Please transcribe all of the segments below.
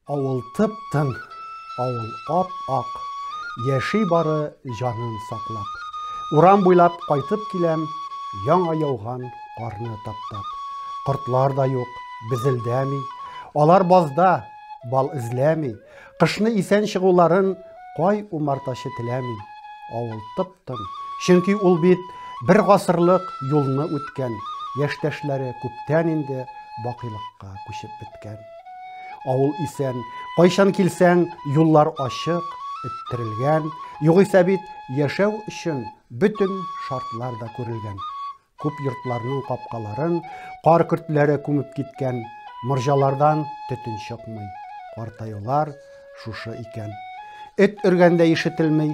Авыл тып-тын, авыл ап-ак, Яши бары җанын саклап. Урам буйлап кайтып киләм, Яңа яуган карны таптап. Кортлар да юк, безелдәми, Алар базда, бал эзләми. Кышны исән чыгуларын Кай умартачы теләми? Авыл тып. Чөнки ул бит бер гасырлык юлны үткән, яшьтәшләре күптән инде бакыйлыкка күчеп беткән. Авыл исән, кайчан килсәң, юллар ачык, эттерелгән, югыйсә бит яшәү өчен бөтен шартлар да күрелгән. Күп йортларның капкаларын кар көртләре күмеп киткән, морҗалардан төтен чыкмый. Картаюлар шушы икән. Эт өргәндә ишетелми,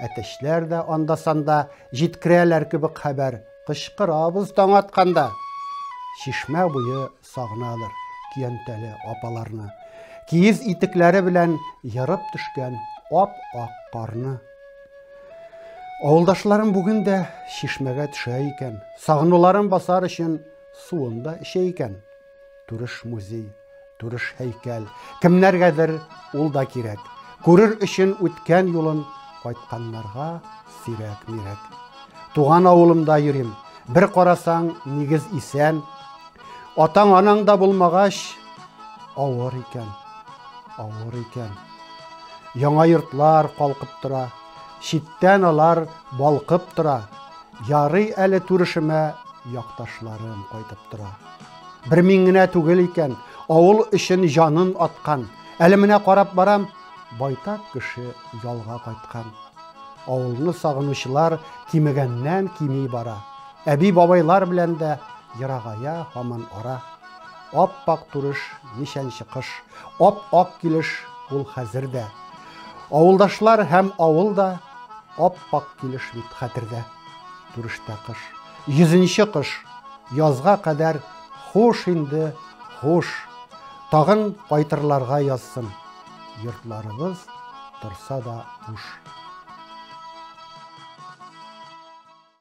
әтәчләр дә анда-санда җиткерәләр кебек хәбәр. Кычкырабыз таң атканда. Чишмә буе сагынадыр көянтәле апаларны, киез итекләре белән ерып төшкән ап-ак карны. Авылдашларым бүген дә чишмәгә төшә икән, сагынуларын басар өчен суын да эчә икән. Турыш музей, турыш һәйкәл, кемнәргәдер ул да кирәк. Күрер өчен үткән юлын кайтканнарга сирәк-мирәк. Туган авылымда йөрим, бер карасаң, нигез исән, Атаң анаң да булмагач, авыр икән, авыр икән. Яңа йортлар калкып тора, читтән алар балкып тора. Ярый әле турышыма якташларым кайтып тора. Бер мин генә түгел икән, авыл өчен җанын аткан. Әле менә карап барам, байтак кеше ялга кайткан. Авылны сагынучылар кимегәннән кими бара. Әби-бабайлар белән дә ерагая һаман ара. Ап-ак турыш, ничәнче кыш, ап-ак килеш ул хәзер дә. Авылдашлар һәм авыл да ап-ак килеш бит хәтердә. Турыштә кыш, йөзенче кыш, язга кадәр хуш инде, хуш. Тагын кайтырларга язсын. Йортларыбыз торса да уш.